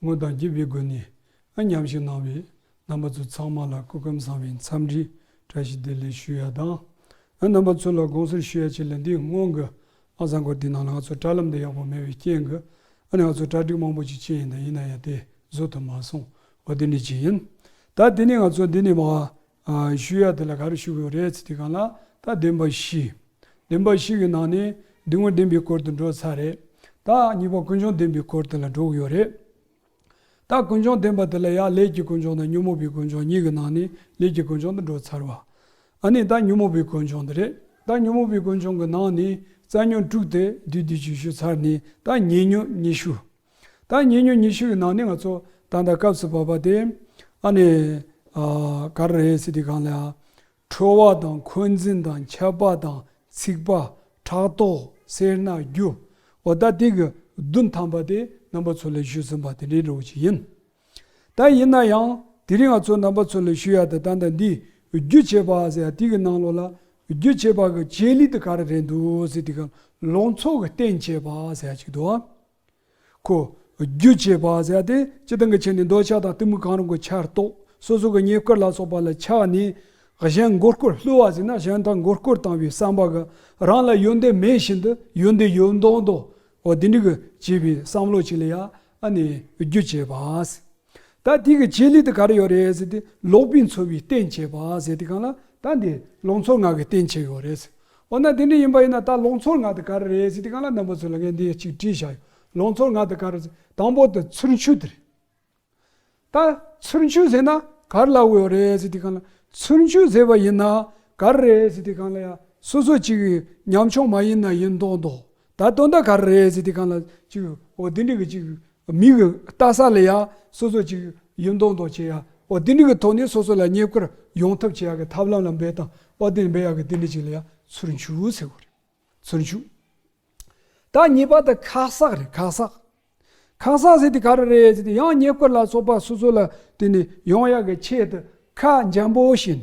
དངོས་དང་བརྒྱུད་པའི་སྒོ་ནས་ཨ་མཉམ་ཞིག་གནང་བས་རྣམ་པ་ཚོ་ཚང་མ་ལ་སྐུ་སྐམ་སངས་བའི་འཚམས་འདྲི་བཀྲ་ཤིས་བདེ་ལེགས་ཞུ་ཡ་དང། ཨ་རྣམ་པ་ཚོ་ལ་དགོངས་ཟུར་ཞུ་ཡ་ཆེ་ལ་འདིའི་སྔོན་གི་ཨ་བཟང་སྐོར་དེའི་ནང་ལ་ང་ཚོར་བཀྲ་ལམ་དུ་ཡག་པོ་མེད་པའི་རྐྱེན་གྱིས་ཨ་ནི་ང་ཚོར་གྲ་སྒྲིག་མང་པོ་ཅིག་བྱས་ཡིན་ད་ཡིན་ན་ཡང་དེ་བཟོ་ཐུབ་མ་སོང་བ་དེ་ནི་གཅིག་ཡིན། ད་དེ་ནས་ང་ཚོ་འདི་ནས་མ་ཞུ་ཡ་དེ་ལ་ག་རེ་ཞུ་དགོས་རེད་ཚེ་དེ་ག་ལ་ད་བདེན་པ་བཞི། བདེན་པ་བཞི་གི་ནང་ནས་སྡིག་དངོས་བདེན་པའི་སྐོར་དུ་འགྲོ་ཚར་རེད། ད་གཉིས་པ་ཀུན་འབྱུང་བདེན་པའི་སྐོར་དེ་ལ་འགྲོ་གི་ཡོད་རེད། ད་ཀུན་འབྱུང་བདེན་པ་དེ་ལ་ཡང་ལས་ཀྱི་ཀུན་འབྱུང་དང་ཉོན་མོངས་པའི་ཀུན་འབྱུང་གཉིས་ཀྱི་ནང་ནས་ལས་ཀྱི་ཀུན་འབྱུང་དུ་འགྲོ་ཚར་བ། ཨ་ནི་ད་ཉོན་མོངས་པའི་ཀུན་འབྱུང་དེ་རེད། ད་ཉོན་མོངས་པའི་ཀུན་འབྱུང་གི་ནང་ནས་རྩ་ཉོན་དྲུག་དེ་བསྡུས་བསྡུས་ཀྱིས་ཞུ་ཚར་ནས་ད་ཉེས་ཉོན་གཉིས་ཞུ། ད་ངེད་ཉོ་ཉི་ཤུ་ཡི་ནང་ནས་ང་ཚོ་ད་ལྟ་སྐབས་སུ་བབས་པ་དེ་ཨ་ནི་ག་རེ་རེད་ཟེར་དུས་གང་ལ་ཁྲོ་བ་དང་འཁོན་འཛིན་དང་ཁྱབ་པ་དང་ཚིག་པ་ཕྲག་དོག་སེར་སྣ་རྒྱུ་བ་ད་ལྟའི་གི་བདུན་ཐམས་པ་དེ་རྣམ་པ་ཚོ་ལས་ཞུས་ཟིན་པ་དེ་འདྲའི་འགྲོ་བ་ཞིག་ཡིན། ད་ཡིན་ན་ཡང་དེ་རིང་ང་ཚོ་རྣམ་པ་ཚོ་ལས་ཞུས་ཡ་ད་ད་ལྟ་འདི་རྒྱུ་བྱེད་པ་ཟེར་ཡ་དེ་གི་ནང་ལོགས་ལ་རྒྱུ་བྱེད་པ་གི་བྱེད་ལུས་དེ་ག་རེ་རེད་འདུག་ཟེར་དུས་གང་ལ་ལོགས་འཚོ་གི་བརྟེན་བྱེད་པ་ཟེར་ཡ་གཅིག་འདུག་ཨ། ཁོ། རྒྱུ་བྱེད་པ་ཟད་དེ་སྤྱི་དང་གི་ཆ་ནས་འདོད་ཆགས་དང་གཏི་མུག་གང་རུང་གི་ཆར་གཏོགས་སོ་སོ་གི་ཉེས་བསྐུར་ལ་སོགས་པ་ལ་ཆགས་ནས། གཞན་མགོ་སྐོར་བསླུ་བ་ཟིན་ན་གཞན་དག་མགོ་སྐོར་བཏང་བའི་བསམ་པ་གི་རང་ལ་ཡོན་ཏན་མེད་བཞིན་དུ་ཡོན་ཏན་ཡོད་མདོག་མདོག་འོ་དེ་འགྲིག་གི་བྱས་པའི་བསམ་བློ་གཅིག་ལ་ཡ་ཨ་ནས་རྒྱུ་བྱེད་པ། ད་དེ་གི་ཆེད་ལས་དེ་ག་རེ་ཡོད་རེད་ཟེར་ཏེ་ལོག་པའི་འཚོ་བའི་རྟེན་བྱེད་པ་ཟེར་ཏེ་གང་ལ་ད་འདི་ལོག་འཚོ་ངག་གི་རྟེན་བྱེད་ཡོད་རེད་ཟེར། འོ་ན་དེ་འདྲ་ཡིན་པ་ཡིན་ན་ད་ལོག་འཚོ་ངག་དེ་ག་རེ་རེད་ཟེར་ཏེ་གང་ལ་རྣམ་པ་ཚོས་ལ་ངས་འདི་གཅིག་དྲིས་བཞག་ཡོད་ལོག་འཚོ་ངག་དེ་ག་རེ་ཟེར་དང་པོ་དེ་ཚུར་འཆུས་དེ་རེད། ད་ཚུར་འཆུས་ཟེར་ན་ག་རེ་ལ་འོས་ཡོད་རེད་ཟེར་ཏེ་གང་ལ་ཚུར་འཆུས་ཟེར་བ་ཡིན་ན་ག་རེ་རེད་ཟེར་ཏེ་གང་ལ་ཡ་སོ་སོ་གཅིག་གི་ཉམ་ཆུང་མ་ཡིན་ན་ཡིན་མདོག་མདོག་ད་དོན་དག་ག་རེ་རེད་ཟེར་ཏེ་གང་ལ་གཅིག་འོ་དེ་འདྲ་གི་གཅིག་མིག་གི་ལྟ་ས་ལ་ཡང་སོ་སོ་ཅིག་ཡུན་མདོག་མདོག་བྱེད་ཡ། བ་དེ་འདྲི་གི་ཐོག་ནས་སོ་སོ་ལ་ཉེ་ཁར་ཡོང་ཐབས་བྱེད་ཡ་གི་ཐབས་ལམ་ལ་འབད་དང་བ་དེ་ནས་འབད་ཡ་གི་དེ་འདྲི་ཅིག་ལ་ཡང་ཚུར་འཇུག་ཟེར་བ་རེད། ཚུར་འཇུག། ད་གཉིས་པ་དང་ཁག་བསགས་རེད་ཁག་བསགས། ཁག་བསགས་ཟེར་དེ་ག་རེ་རེད་ཟེར་དེ་ཡང་ཉེ་ཁར་ལ་སོགས་པ་སོ་སོ་ལ་དེ་ནས་ཡོང་ཡ་གི་ཆེད་དུ་ཁ་འཇམ་པོ་བྱས་ནས།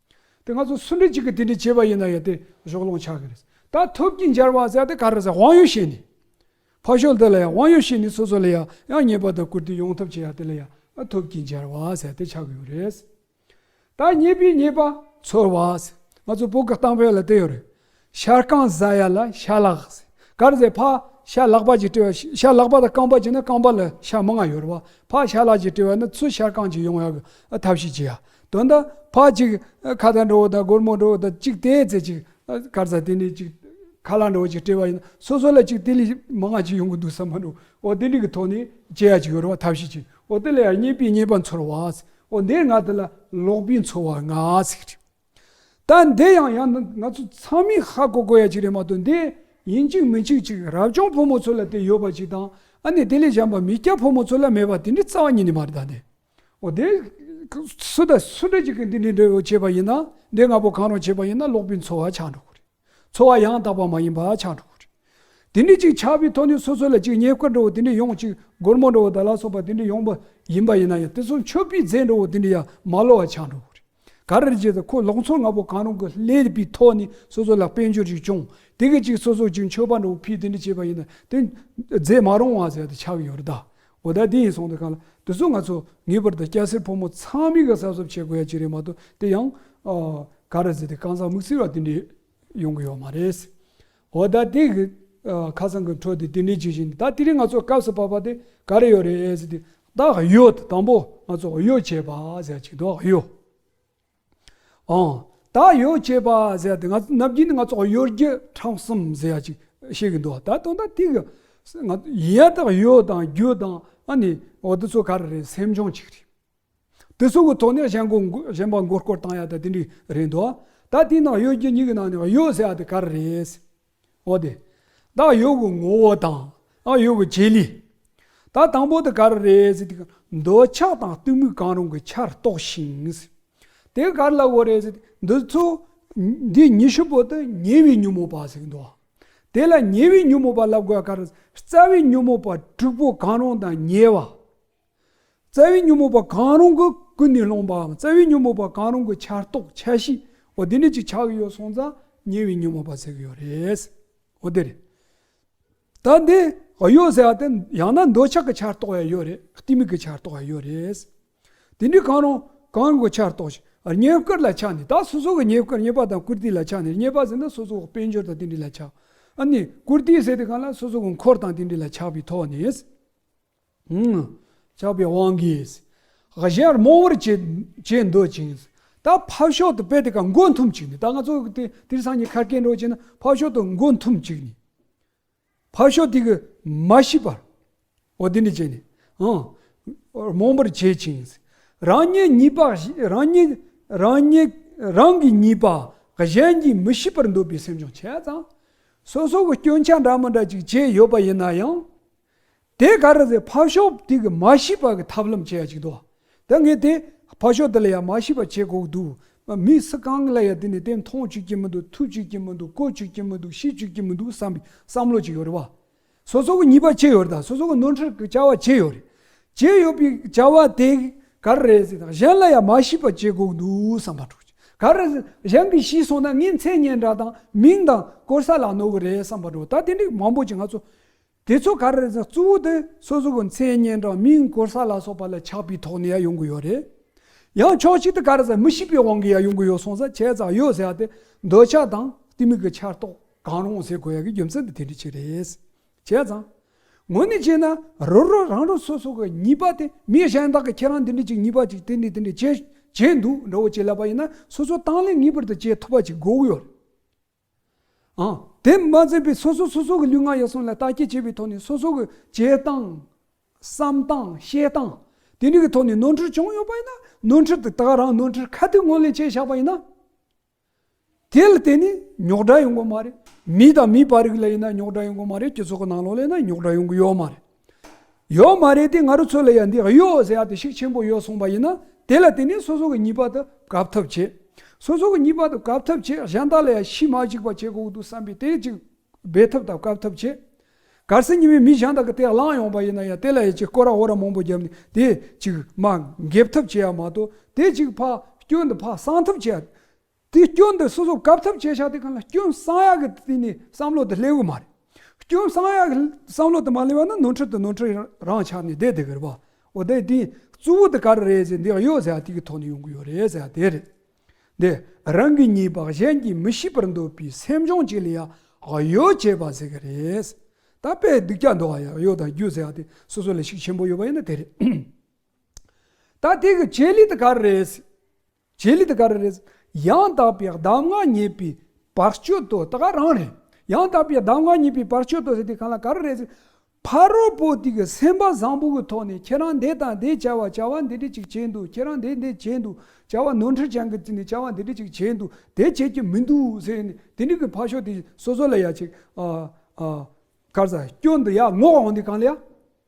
དེ་ང་ཚོ་སུ་འདྲེ་གཅིག་གི་དེ་འདྲེ་བྱེད་པ་ཡིན་ན་ཡང་དེ་གཞོགས་སློང་ཆགས་ཀྱི་རེད། ད་ཐུབ་ཀྱིས་འབྱར་བ་ཟེར་ཡ་དེ་ག་རེ་ཟེར་དབང་ཡོད་བྱས་ནས། ཕར་ཞོག་འདི་ལ་ཡང་དབང་ཡོད་བྱས་ནས་སོ་སོ་ལ་ཡང་ཡང་ཉེས་པ་དང་བཀུར་སྟི་ཡོང་ཐབས་བྱས་ཡ་དེ་ལ་ཡང་ཐུབ་ཀྱིས་འབྱར་བ་ཟེར་དེ་ཆགས་ཀྱི་ཡོད་རེད། ད་ཉེས་པའི་ཉེས་པ། ཚོར་བ། ང་ཚོ་བོད་ཀྱི་གཏམ་དཔེ་ལ་དེ་ཡོད་རེད། ཤ་རྐང་བཟའ་ཡ་ལ་ཤ་ལག། གར་བཟའི་ཕ་ཤ་ལག་པ་གྱིས་དཀྲི་བ་ཤ་ལག་པ་དང་རྐང་པ་གྱིས་ན་རྐང་པ་ལ་ཤ་མི་ང་ཡོད་རུང་ཕ་ཤ་ལག་གྱིས་དཀྲི་བ་ན་ཚུར་ཤ་རྐང་གྱིས་ཡོང་ཡག་ཐབས་ཤིག་བགྱི་ཡ། དོན་དག་ཕ་གཅིག་ཁ་ད་འགྲོ་བོ་དང་སྒོར་མོ་འགྲོ་བོ་དང་གཅིག་དེའི་ཚེ་གཅིག་གར་བཟའ་དེ་ནས་གཅིག་ཁ་ལག་འགྲོ་བོ་གཅིག་དཀྲི་བ་ཡིན་ན་སོ་སོ་ལ་གཅིག་དེ་ལས་མི་ང་གཅིག་ཡོང་གི་འདུག་བསམ་མ་འགྲོ་འོ་དེ་འདྲི་གི་ཐོག་ནས་བྱེད་ཡ་གཅིག་ཡོད་རུང་ཐབས་ཤིག་བགྱི་འོ་དེ་ལ་ཡར་རྙེད་པའི་རྙེད་པ་འཚོལ་བ་འོ་འདིར་ང་དེ་ལ་ལོག་པའི་འཚོལ་བ་ང་ཟིག། ད་འདི་ཡང་ཡང་ན་ང་ཚོ་ཚང་མས་ཧ་གོ་དགོས་ཡ་གཅིག་རེད་མ་གཏོགས་འདི་ཡིན་གཅིག་མིན་གཅིག་ཅིག་རབ་བྱུང་ཕོ་མོ་ཚོ་ལ་དེ་ཡོད་པ་ཅིག་དང་ཨ་ནི་དེ་ལས་གཞན་པ་མི་སྐྱ་ཕོ་མོ་ཚོ་ལ་མེད་པ་དེ་འདྲའི་རྩ་བ་ཉིད་ནས་མ་རེད་ད་འདི་འོ་དེ་སུ་དང་སུ་འདྲ་གཅིག་གིས་འདི་འདྲའི་འདྲ་བོ་བྱས་པ་ཡིན་ན་འདི་ང་ཕོ་གང་རུང་བྱས་པ་ཡིན་ན་ཀློག་པའི་འཚོ་བ་ཆགས་འགྲོ་གི་རེད། འཚོ་བ་ཡང་དག་པ་མ་ཡིན་པ་ཆགས་འགྲོ་བ་རེད། དེ་འདྲས་ཅིག་ཆགས་པའི་ཐོག་ནས་སོ་སོ་ལ་ཅིག་ཉེས་དཀར་འགྲོ་བ་དེ་འདྲས་ཡོང་ཅིག་སྒོར་མོ་འགྲོ་བ་དང་ལ་སོགས་པ་དེ་འདྲས་ཡོང་པ་ཡིན་པ་ཡིན་ན་ཡང་དེ་ཚོ་མཆོད་པའི་རྫས་འགྲོ་བ་དེ་འདྲས་ཡང་མ་བསླུ་བ་ཆགས་འགྲོ་བ་རེད། ག་རེ་རེད་ཅེ་ད་ཁོ་ལོག་འཚོ་ང་པོ་གང་རུང་གི་ལས་པའི་ཐོག་ནས་སོ་སོ་ལ་དཔལ་འབྱོར་ཅིག་བྱུང་དེ་སྐད་ཅིག་སོ་སོ་ཅིག་མཆོད་པ་འགྲོ་བ་ཕིས་དེ་འདྲས་བྱས་པ་ཡིན་ན་དེ་རྫས་མ་རུང་བ་ཟེར་ཏེ་ཆགས་ཡོད་རེད་ད། འོ་ད་དེ་ཡིན་སོང་དུ་ག་ལ། དེ་ཚོ་ང་ཚོ་ངེས་པར་དུ་སྐྱ་སེར་ཕོ་མོ་ཚང་མས་ག་གསབ་སོབ་བྱེད་དགོས་ཡ་གཅིག་རེད་མ་གཏོགས་དེ་ཡང། ག་རེ་ཟེར་ཏེ་རྐང་ཚ་མིག་ཚིལ་བ་དེ་འདྲས་ཡོང་གི་ཡོད་མ་རེད། འོ་ད་དེ་གི་ཁ་སང་གི་འཕྲོ་དེ་དེ་འདྲས་ཇི་བཞིན་ནི་ད་དེ་རིང་ང་ཚོ་སྐབས་སུ་བབས་པ་དེ་ག་རེ་ཡོད་རེད་ཟེར་ཏེ། ད་གཡོ་དང་པོ་ང་ཚོ་གཡོ་བྱས་པ་ཟེར་ཡ་གཅིག་འདུག་གཡོ། ཨང། ད་ཡོད་ཅེས་པ་ཟེར་ཏེ་ང་ཚོ་ནམ་རྒྱུན་ནི་ང་ཚོ་ཡོད་རྒྱུ་གྲངས་གསུམ་ཟེར་ཡ་ཅིག་བཤད་གི་འདུག་ད་དུང་ད་ཐིག་གི་ང་ཡིན་ཡ་ཐག་ཡོད་དང་རྒྱུ་དང་ཨ་ནི་འོ་དེ་ཚོ་ག་རེ་རེད་སེམས་སྦྱོང་ཅིག་རེད། དེ་ཚོ་གི་ཐོག་ནས་གཞན་གོ་གཞན་པ་མགོ་སྐོར་བཏང་ཡ་ད་དེ་འདྲི་རེད་འདུག་ད་དེ་ནང་ཡོད་རྒྱུ་གཉིས་ཀྱི་ནང་ནས་ཡོད་ཟེར་ཡ་དེ་ག་རེ་རེད། འོ་དེ། བདག་ཡོད་གི་ངོ་བོ་དང། བདག་ཡོད་གི་བྱེད་ལས། ད་དང་པོ་དེ་ག་རེ་རེད་ཟེར་དུས། འདོད་ཆགས་དང་གཏི་མུག་གང་རུང་གི་ཆར་གཏོགས་ཤིང། དེ་ག་རེ་ལ་དགོས་རེད་ཟེར་དུས་འདི་ཚོ། འདི་ཉི་ཤུ་པོ་དེ་ཉེ་བའི་ཉོན་མོངས་པ་ཟེར་འདུག། དེ་ལ་ཉེ་བའི་ཉོན་མོངས་པ་ལ་དགོས་ག་རེ། རྩ་བའི་ཉོན་མོངས་པ་དྲུག་པོ་གང་རུང་དང་ཉེ་བ། རྩ་བའི་ཉོན་མོངས་པ་གང་རུང་གི་ཀུན་ནས་སློང་པའམ་རྩ་བའི་ཉོན་མོངས་པ་གང་རུང་གི་ཆར་གཏོགས་ཆ་བཞི་འོ་དེ་ནི་ཅིག་ཆགས་ཡོད་སོང་ཙང་ཉེ་བའི་ཉོན་མོངས་པ་ཟེར་གྱི་ཡོད་རེད། འོ་དེ་རེད། ད་འདི་གཡོ་ཟེར་བ་དེ་ཡང་ན་འདོད་ཆགས་ཀྱི་ཆར་གཏོགས་ཡང་ཡོད་རེད་གཏི་མུག་གི་ཆར་གཏོགས་ཡང་ཡོད་རེད། དེ་འདྲའི་གང་རུང་གང་རུང་གི་ཆར་གཏོགས་ཤིག་ཉེ་བསྐུར་ལ་ཆགས་ནས་ད་སོ་སོ་གི་ཉེ་བསྐུར་རྙེད་པ་དང་བཀུར་སྟི་ལ་ཆགས་ནས་རྙེད་པ་ཟེར་ན་སོ་སོ་དཔལ་འབྱོར་དང་དེ་འདྲའི་ལ་ཆགས། ཨ་ནི་བཀུར་སྟི་ཟེར་དེ་གང་ལ་སོ་སོ་གི་འཁོར་དང་དེ་འདྲའི་ལ་ཆགས་པའི་ཐོག་ནས། ཆགས་པའི་དབང་གིས། གཞན་རྨོངས་བར་བྱེད་འདོད་ཅིང། ད་ཕབ་ཤོག་ཏུ་དཔེ་དེ་ག་མགོ་འཐོམས་ཅིག་ནི། ད་ང་ཚོ་དིར་སང་ཉི་ཁར་སྐྱེ་འགྲོ་བྱེད་ན་ཕབ་ཤོག་ཏུ་མགོ་འཐོམས་ཅིག་ནི། ཕབ་ཤོག་དེ་གི་མ་ཤི་བར། འོ་དེ་ནི་བྱས་ནས། རྨོངས་པར་བྱེད་ཅིང། རང་ཉིད་ཉིད་པ་རང་ཉིད་རང་ཉིད་རང་གི་ཉིད་པ་གཞན་གྱིས་མི་ཤི་བར་འདོད་པའི་སེམས་ཅུང་ཆེ་ཙང། སོ་སོ་གི་སྐྱོན་ཆ་འདྲ་མི་འདྲ་ཅིག་བྱས་ཡོད་པ་ཡིན་ན་ཡང། དེ་ག་རེ་ཟེར་ཕ་ཤོག་དེ་གི་མ་ཤི་བ་གི་ཐབས་ལམ་བྱེད་ཡ་ཅིག་འདུག་དེ་ངས་དེ་ཕ་ཤོག་དེ་ལ་ཡ་མ་ཤི་བ་བྱེད་དགོས་འདུག་བ་མི་སུ་གང་ལ་ཡ་དེ་ནས་དེ་མཐོང་བཅུག་ཀྱི་མི་འདུག་ཐུག་བཅུག་ཀྱི་མི་འདུག་གོ་བཅུག་ཀྱི་མི་འདུག་ཤི་བཅུག་ཀྱི་མི་འདུག་བསམ་པའི་བསམ་བློ་ཅིག་ཡོད་རེད་བ། སོ་སོ་གི་ཉེས་པ་བྱས་ཡོད་རེད་ད་སོ་སོ་གི་ནོར་འཁྲུལ་གི་བྱ་བ་བྱས་ཡོད་རེད་བྱས་ཡོད་པའི་བྱ་བ་དེ་ག་རེ་རེད་ཟེར་ན་གཞན་ལ་ཡ་མ་ཤི་བ་བྱེད་དགོས་འདུག་བསམ་པ་འགྲོ་ག་རེ་ཟེར་གཞན་གི་ཤི་སོང་ན་ངའི་མཚན་སྙན་གྲགས་དང་མིང་དང་གོར་ས་ལ་གནོད་གི་རེད་བསམ་པ་འགྲོ་ད་དེ་འདྲའི་མང་པོ་ཅིག་ང་ཚོ་དེ་ཚོ་ག་རེ་རེད་ཟེར་གཙོ་བོ་དེ་སོ་སོ་གི་མཚན་སྙན་གྲངས་མིང་སྐོར་ས་ལ་སོགས་པ་ལ་ཆགས་པའི་ཐོག་ནས་ཡང་ཡོང་གི་ཡོད་རེད། ཡང་ཕྱོགས་གཅིག་ཏུ་ག་རེ་ཟེར་མི་ཤེས་པའི་དབང་གིས་ཡང་ཡོང་གི་ཡོད་སོང་ཟེར་ཁྱད་མཚར་ཡོད་ཟེར་ཡ་དེ་འདོད་ཆགས་དང་གཏི་མུག་གི་ཆགས་རྟོག་གང་རུང་ཟེར་དགོས་ཡ་གི་རྒྱུ་མཚན་དེ་དེ་འདྲ་ཅིག་རེད། བྱས་ཙང། ངོ་ནས་བྱས་ན་རོ་རོ་རང་རང་སོ་སོ་གི་ཉེས་པ་དེ་མི་གཞན་དག་གིས་ཁྱེད་རང་དེ་འདྲ་ཅིག་ཉེས་པ་ཅིག་དེ་འདྲ་དེ་འདྲ་བྱས་བྱས་འདུག་འདྲ་བོ་བྱས་ལབ་པ་ཡིན་ན་སོ་སོ་དང་ལེན་ངེས་པར་དུ་བྱེད་ཐུབ་པ་ཅིག་དགོས་ཀྱི་ཡོད་རེད། དེ་མ་ཟད་པའི་སོ་སོ་སོ་སོ་གི་ལུས་ངག་ཡིད་གསུམ་ལ་བརྟག་དཔྱད་བྱས་པའི་ཐོག་ནས་སོ་སོ་གི་བྱེད་སྟངས། བསམ་སྟངས་བཤད་སྟངས་དེ་འདྲ་གི་ཐོག་ནས་ནོར་འཁྲུལ་བྱུང་ཡོད་པ་ཡིན་ན་ནོར་འཁྲུལ་དེ་དག་རང་ནོར་འཁྲུལ་ཁ་ཐུག་ངོས་ལེན་བྱས་བཞག་པ་ཡིན་ན། དེ་ལ་བརྟེན་ནས་ཉོག་དྲ་ཡོང་གི་མ་རེད། མི་དང་མི་བར་རིགས་ལ་ཡིན་ན་ཉོག་དྲ་ཡོང་གི་མ་རེད་སྤྱི་ཚོགས་ཀྱི་ནང་ལོགས་ལ་ཡིན་ན་ཉོག་དྲ་ཡོང་གི་ཡོད་མ་རེད། ཡོད་མ་རེད་དེ་ང་རོ་ཚོ་ལ་ཡང་འདི་གཡོ་ཟེར་ཡག་དེ་ཤིག་ཆེན་པོ་ཡོད་གསུངས་པ་ཡིན་ན་དེ་ལ་དེ་ནས་སོ་སོ་གི་ཉིད་པར་དུ་གབ་ཐབས་བྱེད། སོ་སོ་གི་ཉིད་པར་དུ་གབ་ཐབས་བྱེད་གཞན་དག་ལ་ཡང་ཤི་མ་གཅིག་པ་བྱེད་དགོས་འདུག་བསམ་པའི་དེ་ཅིག་སྦེད་ཐབས་དང་གབ་ཐབས་བྱེད། གར་སེར་ཉི་མའི་མི་གཞན་དག་གི་དེ་བླངས་ཡོང་པ་ཡིན་ན་ཡང་དེ་ལ་ཡང་ཅིག་སྐོར་ར་འོ་ར་མང་པོ་བརྒྱབ་ནས་དེ་ཅིག་མ་འགེབས་ཐབས་བྱེད་ཡག་མ་གཏོགས་དེ་ཅིག་ཕ་སྐྱོ་འདི་ཕ་གསང་ཐབས་བྱེད། དེའི་སྐྱོན་དེ་སོ་སོ་གབ་ཐབས་བྱེད་བྱ་དེ་གང་ལ་སྐྱོན་བསམ་ཡག་གི་དེ་ནི་བསམ་བློ་དེ་སླེབས་གི་མ་རེད། སྐྱོན་བསམ་ཡག་གི་བསམ་བློ་དེ་མ་སླེབས་པ་ན་ནོར་འཁྲུལ་དེ་ནོར་འཁྲུལ་རང་ཆགས་ནས་བསྡད་དེ་གི་རེད་པ། འོ་དེ་དེའི་གཙོ་བོ་དེ་ག་རེ་རེད་ཟེར་འདི་ཡོད་ཟེར་དེ་གི་ཐོག་ནས་ཡོང་གི་ཡོད་རེད་ཟེར་དེ་རེད། འདི་རང་གི་ཉིད་བག་གཞན་གྱིས་མི་ཤེས་པར་འདོད་པའི་སེམས་བྱུང་གཅིག་ལ་ཡང་གཡོལ་བྱེད་པ་ཟེར་གི་རེད། ད་དཔེ་སྡིག་ཅག་འདོགས་ཡང་གཡོལ་དང་རྒྱུ་ཟེར་དེ་སོ་སོ་ལ་ཤུགས་ཆེན་པོ་ཡོད་པ་ཡིན་ན་དེ་རེད། ད་དེ་གི་བྱེད་ལུས་དེ་ག་རེ་རེད། བྱེད་ལས་དེ་ག་རེ་རེད། ཡང་དག་པའི་གདམས་ངག་རྙེད་པའི་བར་གཅོད་དོ་དེ་ག་རང་རེད། ཡང་དག་པའི་གདམས་ངག་རྙེད་པའི་བར་གཅོད་དོ་ཟེར་དེ་གང་ལ་ག་རེ་རེད། ཕ་རོལ་པོ་དེ་གི་སེམས་པ་བཟང་པོ་གི་ཐོག་ནས་ཁྱེད་རང་འདི་དང་འདི་བྱ་བ་བྱ་བ་འདི་འདི་ཅིག་བྱས་འདུག་ཁྱེད་རང་འདི་འདི་བྱས་འདུག་བྱ་བ་ནོར་འཁྲུལ་བྱང་གི་བརྩིས་ནས་བྱ་བ་འདི་འདི་ཅིག་བྱས་འདུག་དེ་བྱེད་ཀྱི་མི་འདུག་ཟེར་ནས་དེ་འདྲི་གི་ཕ་ཤོ་དེ་སོ་སོ་ལ་ཡ་ཅིག། ཨ། ཨ། ཀར་ཟ་སྐྱོ་འདི་ཡ་ངོ་འོང་འདི་གང་ལ་ཡ།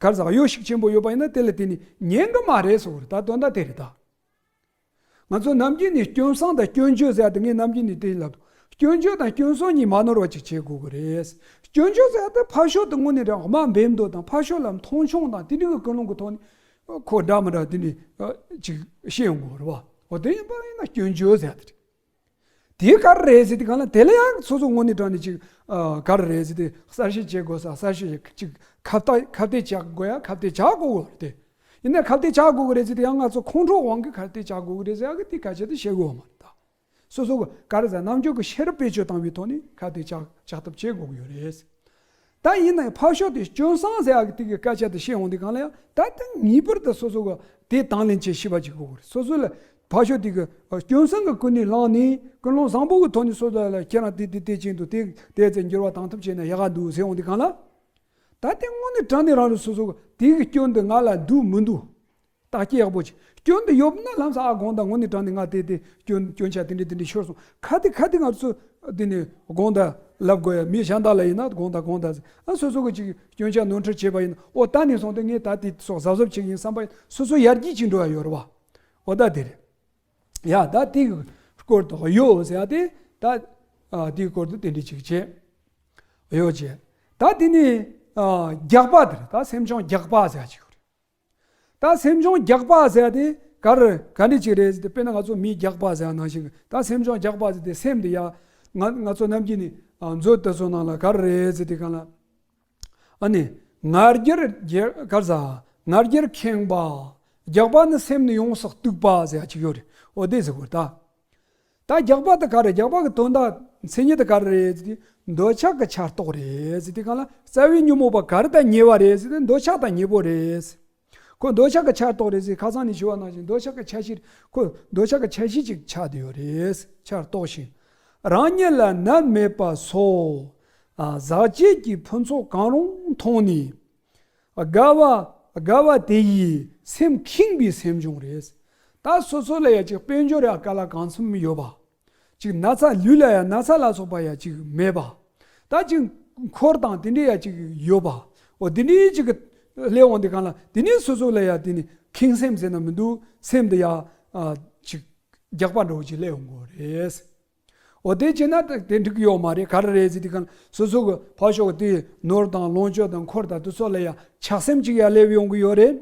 སྐལ་བཟང་ཡོད་ཤུགས་ཆེན་པོ་ཡོད་པ་ཡིན་ན་དེ་ལ་དེ་ནི་ཉན་གི་མ་རེད་ཟེར་བ་རེད་ད་དོན་དག་དེ་རེད་ད། ང་ཚོ་ནམ་རྒྱུན་ནས་སྐྱོན་བསྲང་དང་སྐྱོན་བརྗོད་ཟེར་ཡག་དེ་ངས་ནམ་རྒྱུན་ནས་དེ་ལབ་འདུག་སྐྱོན་བརྗོད་དང་སྐྱོན་བསྲང་གཉིས་མ་ནོར་བ་ཅིག་བྱེད་དགོས་ཀྱི་རེད། སྐྱོན་བརྗོད་ཟེར་ཡག་དེ་ཕར་ཞོག་དེ་དངོས་ནས་རང་དམའ་འབེབས་མདོ་དང་ཕར་ཞོག་ལ་མཐོང་ཆུང་དང་དེ་རིགས་ཀྱི་ཀུན་སློང་གི་ཐོག་ནས། ཁོ་འདྲ་མི་འདྲ་དེ་ནས་ཅིག་བཤད་ཡོང་དགོས་རེད་བ། འོ་དེ་ཡིན་པ་ཡིན་ན་སྐྱོན་བརྗོད་ཟེར་ཡག་དེ་རེད། དེའི་དཀའ་ར་རེད་ཟེར་དུས་གང་ལ་དེ་ལ་ཡང་སོ་སོ་ངོ་ནས་དྲངས་ནས་ཅིག་དཀའ་ར་རེད་ཟེར་དུས་གསར་བཞེངས་བྱེད་དགོས་ས་གསར་བཞེངས་བྱེད་ཅིག་ཁ་བརྡ་ཁ་བརྡའི་བྱ་དགོས་ཡ་ཁ་བརྡའི་བྱ་དགོ་གོ་རེད་དེ། ཡིན་ནའི་ཁ་བརྡའི་བྱ་དགོ་གོ་རེད་ཟེར་དུས་ཡང་ང་ཚོ་ཁོང་ཁྲོ་དབང་གིས་ཁ་བརྡའི་བྱ་དགོ་གོ་རེད་ཟེར་ཡ་གི་དེ་ག་བྱེད་དུ་བྱེད་དགོས་བ་མ་རེད་ད། སོ་སོ་ག་ར་ས་རྣམ་འགྱུར་གྱི་ཤེས་རབ་བེད་སྤྱོད་བཏང་བའི་ཐོག་ནས་ཁ་བརྡའི་བྱ་བྱ་ཐབས་བྱེད་དགོ་གི་ཡོད་རེད། ད་ཡིན་ན་ཡང་ཕར་ཞོག་དེ་སྐྱོན་སངས་རྒྱས་ཨ་ཀི་ཏི་ཀིའི་སྐད་ཆ་དེ་བཤད་འོང་དུས་གང་ལ་ཡང་ད་ལྟ་ངེས་པར་དུ་སོ་སོ་ག་དེ་དང་ལེན་བྱེད་ཤེས་པ་ཅིག་དགོས་གི་རེད་སོ་སོ་ལ་ཕར་ཞོག་དེ་གི་སྐྱོན་སངས་གི་ཀུན་ནས་བསླངས་ནས་ཀུན་སློང་བཟང་པོ་གི་ཐོག་ནས་སོ་སོ་ལ་ཁྱེད་རང་དེ་དེ་དེ་བྱས་འདུག་དེ་དེ་ཚེ་འགྱུར་བ་དང་ཐུབ་བྱས་ན་ཡག་ག་འདུག་ཟེར་འོང་དུས་གང་ལ། ད་དེ་དངོས་གནས་དྲན་ནས་རང་རེ་སོ་སོ་ག་དེ་གི་སྐྱོན་དེ་ང་ལ་འདུག་མི་འདུག་རྟགས་སྐྱེས་ཡག་པོ་བྱས། སྐྱོན་འདི་ཡོད་ན་ལམ་སང་ཨ་དགོངས་དང་ངོ་ནས་དྲངས་ནས་ང་བལྟས་ཏེ་སྐྱོན་སྐྱོན་ཆ་དེ་འདྲས་དེ་འདྲས་ཤོར་སོང་ཁ་དེ་ཁ་དེ་ང་ཚོ་དེ་ནས་དགོངས་དག་ལབ་དགོས་ཡ་མི་གཞན་དག་ལ་ཡིན་ན་དགོངས་དག་དགོངས་དག་ཟེར་ཨ་སོ་སོ་གི་ཅིག་སྐྱོན་ཆ་ནོར་འཁྲུལ་བྱས་པ་ཡིན་ན་ཨོ་ད་ནས་བཟུང་སྟེ་ངས་ད་དེ་སོགས་གཟབ་གཟབ་བྱེད་ཀྱི་ཡིན་བསམ་པ་ཡིན་སོ་སོ་ཡར་རྒྱས་ཅིག་འགྲོ་ཡ་ཡོད་རེད་བ། ཨོ་ད་དེ་རེད། ཡ་ད་དེ་གི་སྐོར་དུ་ཡོ་ཟེར་ཡ་དེ་ད་དེའི་སྐོར་དུ་དེ་འདྲས་ཅིག་བྱས། ཡོ་བྱས། ད་དེ་ནས་རྒྱག་པ་དེ་རེད་ད་སེམས་ཆུང་རྒྱག་པ་ཟེར་ཡ་ཅིག་ཡོད་རེད། ད་སེམས་ཆུང་རྒྱག་པ་ཟེར་དེ་གར་ག་འདྲི་ཅིག་རེད་ཟེར་དེ་དཔེར་ན་ང་ཚོ་མིའི་རྒྱག་པ་ཟེར་ནང་བཞིན་ད་སེམས་ཆུང་རྒྱག་པ་ཟེར་དེ་སེམས་དེ་ཡ་ང་ང་ཚོ་རྣམས་ཀྱི་ནི་མཛོད་དེ་ཚོ་ནང་ལ་གར་རེད་ཟེར་དེ་གང་ལ་ཨ་ནི་ངར་རྒྱར་རྒྱལ་གར་ཟ་ངར་རྒྱར་ཁེངས་པ་རྒྱག་པ་ནི་སེམས་ནི་ཡོངས་སུ་གཏུགས་པ་ཟེར་ཡ་གཅིག་ཡོད་རེད་འོ་དེ་ཟེར་དགོས་ད། ད་རྒྱག་པ་དེ་ག་རེད་རྒྱག་པ་གི་དོན་དག་མཚན་ཉིད་དེ་ག་རེ་རེད་ཟེར་གྱི། འདོད་ཆགས་ཀྱི་ཆགས་རྟོག་རེད་ཟེར་གྱི་གང་ལ་རྩ་བའི་ཉོན་མོངས་པ་ག་རེ་དང་ཉེ་བ་རེད་ཟེར་ཏེ་འདོད་ཆགས་དང་ཉེ་པོ་རེད་ཟེར། ཁོ་འདོད་ཆགས་ཀྱི་ཆགས་རྟོག་རེད་ཟེར་ཁ་སང་ནས་ཞུ་བ་གནང་བཞིན་འདོད་ཆགས་ཀྱི་ཆགས་གཞིར་ཁོ་འདོད་ཆགས་ཀྱི་ཆགས་གཞི་ཅིག་ཆགས་དུ་ཡོད་རེད་ཆགས་རྟོག་ཞིང། རང་ཉིད་ལ་ནད་མེད་པ་སོགས། ཟག་བཅས་ཀྱི་ཕུན་ཚོགས་གང་རུང་མཐོང་ནས། དགའ་བ། དགའ་བ་དེ་ཡིས་སེམས་ཁེངས་པའི་སེམས་བྱུང་རེད། ད་སོ་སོ་ལ་ཡང་ཅིག་དཔལ་འབྱོར་ཡང་དཀའ་ལ་གང་འཚམས་ཡོད་པ། ཅིག་ན་ཚ་ལུས་ལ་ཡང་ན་ཚ་ལ་སོགས་པ་ཡང་ཅིག་མེད་པ། ད་ཅིག་འཁོར་དང་དེ་འདྲས་ཡང་ཅིག་ཡོད་པ། འོ་དེ་འདྲས་ཅིག་སླེབས་འོང་དེ་གང་ལ་དེ་ནས་སོ་སོ་ལ་ཡང་དེ་ནས་ཁེངས་སེམས་ཟེར་ན་མི་འདུག་སེམས་འདི་ཡང་ཅིག་རྒྱགས་པ་འགྲོ་ཅིག་སླེབས་འོང་དགོས་རེད། འོ་དེ་བྱས་ན་དེ་འགྲིག་གི་ཡོད་མ་རེད་ག་རེ་རེད་ཟེར་དུས་ཀ་སོ་སོ་གི་ཕ་ཤོག་གི་དེའི་ནོར་དང་ལོངས་སྤྱོད་དང་འཁོར་དང་དུ་ཚོད་ལ་ཡང་ཆགས་སེམས་ཅིག་ཡང་སླེབས་ཡོང་གི་ཡོད་རེད།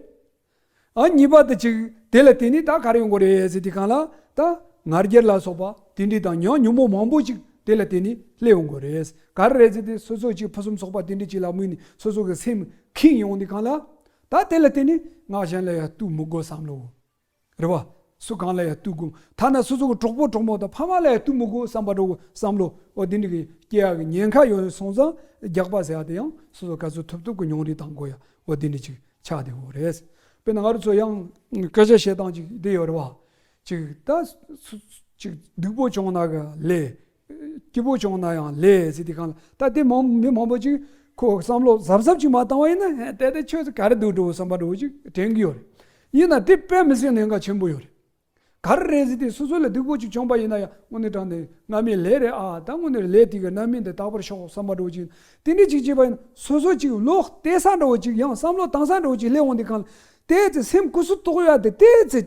ཨ་གཉིས་པ་དེ་ཅིག་དེ་ལ་དེ་ནས་ད་ག་རེ་ཡོང་གི་རེད་ཟེར་དུས་གང་ལ་ད་ང་རྒྱལ་ལ་སོགས་པ་དེ་འདྲས་དང་ཉང་ཉུང་མོ་མང་པོ་ཅིག་དེ་ལ་དེ་ནས་སླེབས་ཡོང་གི་རེད། ག་རེ་རེད་ཟེར་དུས་སོ་སོ་ཅིག་ཕུན་སུམ་ཚོགས་པ་དེ་འདྲས་ཅིག་ལ་དམིགས་ནས་སོ་སོ་གི་སེམས་ཁེངས་ཡོང་དུས་གང་ལ་ད་དེ་ལ་དེ་ནས་ང་གཞན་ལ་ཡང་གཏུག་མི་དགོས་བསམ་བློ་རེད་བ། སུ་གང་ལ་ཡང་བསྟུད་དགོས། ཐ་ན་སོ་སོ་གི་གྲོགས་པོ་གྲོགས་མོ་དང་ཕ་མ་ལ་ཡང་བསྟུད་མི་དགོས་བསམ་པ་འགྲོ་དགོས་བསམ་བློ་འོ་དེ་འདྲ་གི་སྐྱེ་ཡག་གི་ཉེན་ཁ་ཡོང་ཡོང་སོང་ཙང་རྒྱག་པ་ཟེར་ཡག་དེ་ཡང་སོ་སོ་ག་ཚོད་ཐུབ་ཐུབ་གི་མྱོང་རིག་དང་གོ་ཡག་འོ་དེ་འདྲ་ཅིག་ཆགས་བསྡད་དགོས་རེད། དཔེར་ན་ང་རོ་ཚོ་ཡང་སྐད་ཆ་བཤད་སྟངས་ཅིག་བསྡད་ཡོད་རེད་བ། ཅིག་ད། ཅིག་སྡུག་པོ་བྱུང་ན་གི་ལས། སྐྱིད་པོ་བྱུང་ན་ཡང་ལས་ཟེར་དུས་གང་ལ་ལྟ་དེ་མང་མི་མང་པོ་ཅིག་ཁོ་བསམ་བློ་གཟབ་གཟབ་ཅིག་མ་བཏང་བ་ཡིན་ན་ཧད་དེ་ཁྱོད་ཚོ་ག་རེ་འདུག་འགྲོ་བསམ་པ་འགྲོ་ཅིག་དྲན་གྱི་ཡོད་རེད། ཡིན་ན་དེ་དཔེ་མི་སྲིད་གནད་འགག་ཆེན་པོ་ཡོད་རེད། ག་རེ་རེད་ཟེར་དུས་སོ་སོ་ལ་སྡུག་པོ་ཅིག་བྱུང་པ་ཡིན་ན་ཡང་དངོས་གནས་དྲང་བདེན་སྔ་མའི་ལས་རེད་ཨ་ད་དངོས་གནས་ལས་དེ་ག་ནམ་མིན་དེ་རྟག་པར་ཤོག་བསམ་པ་འགྲོ་ཅིག་དེ་འདྲས་ཅིག་བྱས་པ་ཡིན་ན་སོ་སོ་ཅིག་བློ་གཏད་ས་འགྲོ་ཅིག་ཡང་བསམ་བློ་བཏང་ས་འགྲོ་ཅིག་སླེབས་འོང་དུས་གང་ལ་ལྟས་ཚེ་སེམས་ཀུ་སུ་ཏོག་ཡོད་དེ་ལྟས་ཚེ།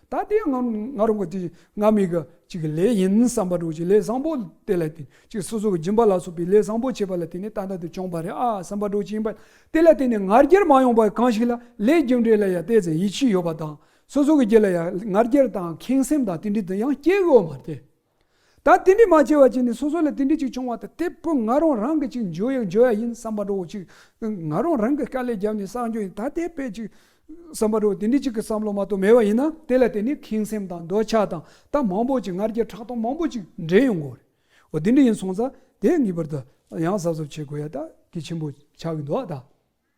ད་ལྟའི་ང་རང་གི་དེ་ང་མི་ག་ཅིག་གི་ལས་ཡིན་བསམ་པ་འགྲོ་ཅིག་ལས་བཟང་པོ་དེ་ལ་བརྟེན་ཅིག་སོ་སོ་གི་སྦྱིན་པ་ལ་སོགས་པའི་ལས་བཟང་པོ་བྱས་པ་ལ་བརྟེན་ནས་ཏན་ཏན་དུ་བྱུང་བ་རེད་ཨ་བསམ་པ་འགྲོ་ཅིག་ཡིན་པ་དེ་ལ་བརྟེན་ནས་ང་རྒྱལ་མ་ཡོང་བར་གང་ཞིག་ལ་ལས་རྒྱུ་འབྲས་ལ་ཡང་བལྟས་ཚེ་ཡིད་ཆེས་ཡོད་པ་དང་སོ་སོ་གི་རྒྱལ་ལ་ཡང་ང་རྒྱལ་དང་ཁེངས་སེམས་དང་དེ་འདྲའི་དུ་ཡང་སྐྱེ་དགོས་མ་རེད། ད་རྟེན་འབྲེལ་མ་བྱས་བར་གྱི་ནས་སོ་སོ་ལ་རྟེན་འབྲེལ་ཅིག་བྱུང་བ་དང་དེ་བུ་ང་རང་རང་གི་ཅིག་འཇོ་ཡ་འཇོ་ཡ་ཡིན་བསམ་པ་འགྲོ་བ་ཅིག་ང་རང་རང་གི་དཀའ་ལས་བརྒྱབ་ནས་བསགས་འཇོ་ཡིན་ད་དེ་དཔེ་ཅིག་བསམ་པ་འགྲོ་བ་དེ་འདྲའི་ཅིག་གི་བསམ་བློ་མ་གཏོགས་མེད་པ་ཡིན་ན་དེ་ལ་བརྟེན་ནས་ཁེངས་སེམས་དང་འདོད་ཆགས་དང་ད་མང་པོ་ཅིག་ངར་སྐད་ཁྲག་འཐུང་མང་པོ་ཅིག་འདྲེན་ཡོང་དགོས་རེད་འོ་དེ་འདྲ་ཡིན་སོང་ཙང་དེ་ངེས་པར་དུ་ཡང་གཟབ་གཟབ་བྱེད་དགོས་ཡ་ད་གི་ཆེན་པོ་ཆགས་ཀྱི་འདུག་ད།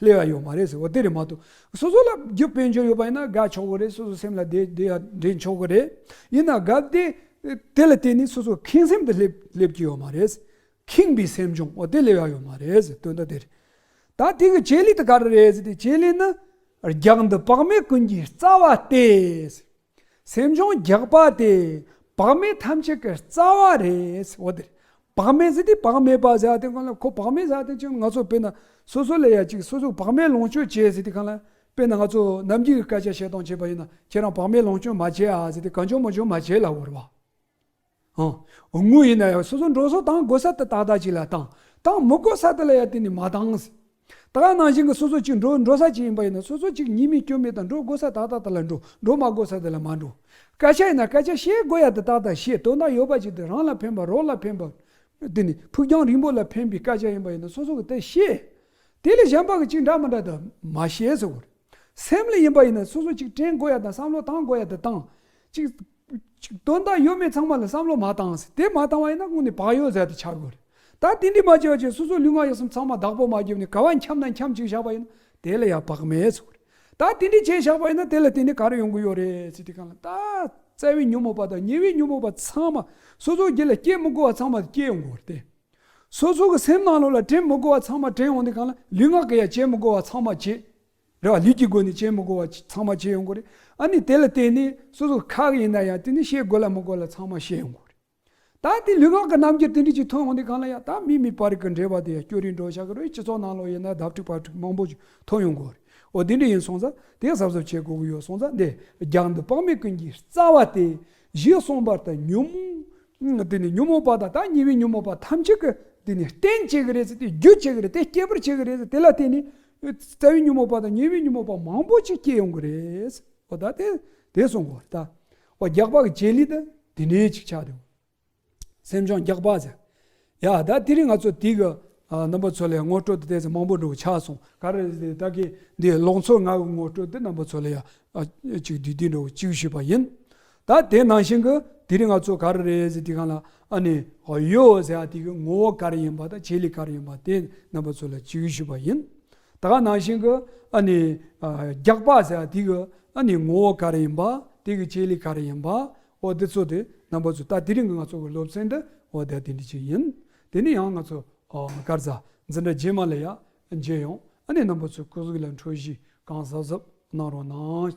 ལས་ཡ་ཡོད་མ་རེད་ཟེར་བ་དེ་རེད་མ་གཏོགས་སོ་སོ་ལ་རྒྱུ་དཔལ་འབྱོར་ཡོད་པ་ཡིན་ན་དགའ་ཆོག་གི་རེད་སོ་སོ་སེམས་ལ་དེ་དེ་ཡང་དྲན་ཆོག་གི་རེད་ཡིན་ན་དགའ་བདེ་དེ་ལ་བརྟེན་ནས་སོ་སོ་ཁེངས་སེམས་དུ་སླེབས་སླེབས་ཀྱི་ཡོད་མ་རེད་ཁེངས་པའི་སེམས་བྱུང་བ་དེ་ལས་ཡ་ཡོད་མ་རེད་ཟེར་དོན་དག་དེ་རེད་ད་དེ་གི་བྱེད་ལས་དེ་ག་རེ་རེད་ཟེར་དེ་བྱེད་ལས་ནི་རྒྱང་འདི་བག་མེད་ཀུན་གྱི་རྩ་བ་སྟེ། སེམས་བྱུང་རྒྱག་པ་དེ་བག་མེད་ཐམས་ཅད་ཀྱི་རྩ་བ་རེད། འོ་དེར་བག་མེད་ཟེར་དུས་བག་མེད་པ་ཟེར་ཡ་དེ་གང་ལ་ཁོ་བག་མེད་ཟེར་ཡ་དེ་ཅི་ང་ཚོ་དཔེར་ན་སོ་སོ་ལས་ཡ་གཅིག་སོ་སོ་བག་མེད་ལོངས་སྤྱོད་བྱས་ཟེར་དུས་གང་ལ་དཔེར་ན་ང་ཚོ་རྣམ་འགྱུར་གྱི་སྐད་ཆ་བཤད་སྟངས་བྱས་པ་ཡིན་ན་ཁྱེད་རང་བག་མེད་ལོངས་སྤྱོད་མ་བྱས་ཨ་ཟེར་དུས་གང་བྱུང་མ་བྱུང་མ་བྱས་ལ་བོར་བ། དངུལ་ཡིན་ན་ཡང་སོ་སོ་འགྲོ་སོགས་བཏང་དགོས་ས་དེ་དག་དག་ཅིག་ལ་བཏང། བཏང་མི་དགོས་ས་དེ་ལ་ཡང་དེ་ནས་མ་བཏང། ད་ག་ནང་བཞིན་གྱི་སོ་སོ་གཅིག་འགྲོ་འགྲོ་ས་གཅིག་ཡིན་པ་ཡིན་ན་སོ་སོ་གཅིག་ཉིད་མེད་སྐྱོན་མེད་དང་འགྲོ་དགོས་ས་དག་དག་དེ་ལ་འགྲོ་འགྲོ་མ་དགོས་ས་དེ་ལ་མ་འགྲོ། སྐད་ཆ་ཡིན་ན་སྐད་ཆ་བཤད་དགོས་ཡ་དེ་དག་དག་བཤད་དོན་དག་ཡོད་པ་ཅིག་དེ་རང་ལ་ཕན་པ་རོགས་ལ་ཕན་པ། དེ་ནི་ཕུགས་རྒྱང་རིང་པོ་ལ་ཕན་པའི་སྐད་ཆ་ཡིན་པ་ཡིན་ན་སོ་སོ་གི་དེ་བཤད། དེ་ལས་གཞན་པ་གི་གཅིག་འདྲ་མི་འདྲ་དག་མ་བཤད་ཟེར་བར། སེམས་ལ་ཡིན་པ་ཡིན་ན་སོ་སོ་གཅིག་དྲན་དགོས་ཡ་དང་བསམ་བློ་བཏང་དགོས་ཡ་དེ་བཏང། གཅིག། དོན་དག་ཡོད་མེད་ཚང་མ་ལ་བསམ་བློ་མ་བཏང་ཟེར་དེ་མ་བཏང་བ་ཡིན་ན་དངོས་ནས་བག་ཡོད་ཟེར་དེ་ཆགས་དགོས་རེད་ད་དེ་འདྲི་མ་བྱས་བ་ཆེད་སོ་སོ་ལུས་ངག་ཡིད་གསུམ་ཚང་མ་བདག་པོ་མ་བརྒྱབ་ནས་ག་བ་འཁྱམ་ན་འཁྱམ་ཅིག་བཞག་པ་ཡིན་ན་དེ་ལ་ཡང་བག་མེད་ཟེར་དགོས་རེད་ད་དེ་འདྲི་བྱས་བཞག་པ་ཡིན་ན་དེ་ལ་དེ་འདྲི་ག་རེ་ཡོང་གི་ཡོད་རེད་ཟེར་དེ་གང་ལ་ད་བཙལ་བའི་ཉོན་མོངས་པ་དང་ཉེ་བའི་ཉོན་མོངས་པ་ཚང་མ་སོ་སོ་སྒེར་ལ་སྐྱེ་མི་དགོས་བ་ཚང་མ་སྐྱེ་ཡོང་དགོས་རེད་དེ་སོ་སོ་གི་སེམས་ནང་ལུགས་ལ་དྲན་མི་དགོས་བ་ཚང་མ་དྲན་ཡོང་དེ་གང་ལ་ལུས་ངག་གི་ཡ་བྱེད་མི་དགོས་བ་ཚང་མ་བྱེད་རེ་བ་ལུས་ཀྱི་སྒོ་ནས་བྱེད་མི་དགོས་པ་ཚང་མ་བྱེད་ཡོང་དགོས་རེད། ཨ་ནི་དེ་ལ་བརྟེན་ནས་སོ་སོ་ཁག་ཡིན་ན་ཡང་དེ་ནི་བཤད་དགོས་ལ་མི་དགོས་ལ་ཚང་མ་བཤད་ཡོང་དགོས་རེད། ད་དེ་ལུས་ངག་གི་རྣམ་འགྱུར་དེ་འདྲ་ཅིག་ཐོན་འོང་དུས་གང་ལ་ཡང་ད་མི་མི་བར་གྱི་འབྲེལ་བ་དེ་ཡང་སྐྱོ་རིས་འགྲོ་ཤག་གི་རེད་སྤྱི་ཚོགས་ནང་ལོག་ཡིན་ན་ལྡབ་ཕྲུག་ཕར་ཕྲུག་མང་པོ་ཅིག་ཐོན་ཡོང་དགོས་རེད་འོ་དེ་འདྲ་ཡིན་སོང་ཙང་དེ་གཟབ་གཟབ་བྱེད་དགོས་ཀྱི་ཡོད་སོང་ཙང་འདི་རྒྱག་འདི་དཔག་མེད་ཀུན་གྱི་རྩ་བ་སྟེ་གཞི་གསུམ་པར་དང་ཉོན་མོངས་དེ་ནི་ཉོན་མོངས་པ་དང་ད་ཉེ་བའི་ཉོན་མོངས་པ་ཐམས་ཅད་ཀྱི་དེ་ནི་རྟེན་བྱེད་ཀྱི་རེད་ཟེར་ཏེ་རྒྱུ་བྱེད་ཀྱི་རེད་དེ་སྐྱེད་པར་བྱེད་ཀྱི་རེད་ཟེར་དེ་ལ་བརྟེན་ནས་རྩ་བའི་ཉོན་མོངས་པ་དང་ཉེ་བའི་ཉོན་མོངས་པ་མང་པོ་ཅིག་སྐྱེ་ཡོང་གི་རེད། འོ་ད་དེ་དེ་སོང་གོ་ད། འོ་རྒྱགས་པ་གི་བྱེད་ལས་ད་དེ་འདྲའི་ཅིག་ཆགས་འདུག་སེམས་བྱུང་རྒྱགས་པ་ཟེར། ཡ་ད་དེ་རིང་ང་ཚོ་དེ་གི་རྣམ་པ་ཚོ་ལས་ངོ་སྤྲོད་དུ་བལྟས་ཚེ་མང་པོ་འགྲོ་གི་ཆགས་སོང། ག་རེ་ད་གི་འདིའི་ལོག་འཚོ་ང་གི་ངོ་སྤྲོད་དེ་རྣམ་པ་ཚོ་ལས་ཡག་ཅིག་བསྡུས་བསྡུས་འགྲོ་གི་ཅིག་ཞུས་པ་ཡིན། ད་དེ་ནང་བཞིན་གྱི་དེ་རིང་ང་ཚོ་ག་རེ་རེད་ཟེར་དུས་གང་ལ་ཨ་ནི་ཡོད་ཟེར་ཡ་དེ་གི་ངོ་བོ་ག་རེ་ཡིན་པ་དང་བྱེད་ལས་ག་རེ་ཡིན་པ་དེ་རྣམ་པ་ཚོ་ལ་ཅི་གི་ཞུས་པ་ཡིན། ད་ག་ནང་བཞིན་གྱི་ཨ་ནི་རྒྱག་པ་ཟེར་ཡ་དེ་གི་ཨ་ནི་ངོ་བོ་ག་རེ་ཡིན་པ་དེ་གི་བྱེད་ལས་ག་རེ་ཡིན་པ་འོ་དེ་ཚོ་དེ་རྣམ་པ་ཚོ་ད་དེ་རིང་གི་ང་ཚོ་གི་སློབ་ཚན་འདི་འོ་དེ་འདི་ཅིག་ཡིན། དེ་ནས་ཡང་ང་ཚོ་སྐར་རྩ་འཛིན་གྲྭ་རྗེས་མ་ལ་ཡང་མཇལ་ཡོང་ཨ་ནི་རྣམ་པ་ཚོ་སྐུ་གཟུགས་ལ་འཕྲོད་གཞི་གང་གཟབ་གཟབ་གནང་རོགས་གནང།